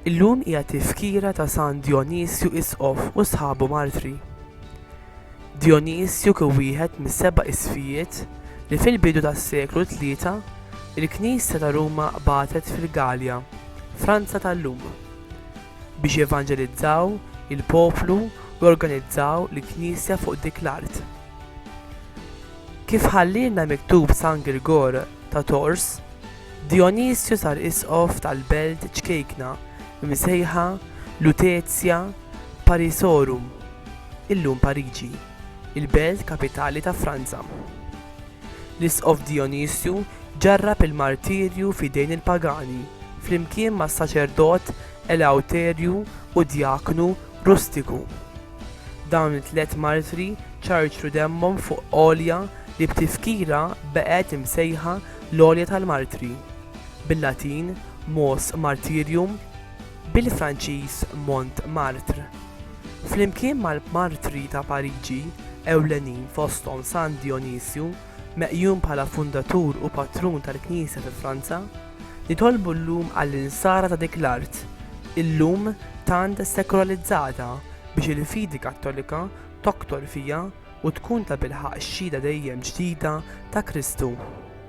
Illum hija tifkira ta' San Djonisju Isqof u sħabu martri. Djonisju kien wieħed mis-seba' isfijiet li fil-bidu tas-seklu tlieta il-Knisja ta' Ruma qbatet fil-Galja, Franza tal-lum. biex jevanġelizzaw il-poplu u jorganizzaw l-Knisja fuq dik l-art. Kif ħallielna miktub San Girgor ta' Tours, Dijonisju sar isqof tal-belt ċkejkna msejħa Lutetia Parisorum, illum Pariġi. il-belt kapitali ta' Franza. L-Isqof Dijonisju ġarrab il-martirju f'idejn il-pagani flimkien mas-saċerdot Eleuterju u d-djaknu Rustiku. Dawn it-tliet martri ċarċru demmhom fuq għolja li b'tifkira baqgħet imsejħa l-Għolja tal-Martri, bil-Latin, Mos Martyrium. bil-Franċiż Montmartre, flimkien mal-martri ta' Pariġi ewlenin fosthom San Dijonisju, meqjum bħala fundatur u patrun tal-Knisja fi Franza, nitolbu llum għall-insara ta' dik l-art, illum tant sekularizzata, biex il-fidi Kattolika toktor fiha u tkun tabilħaqq xhieda dejjem ġdida ta' Kristu.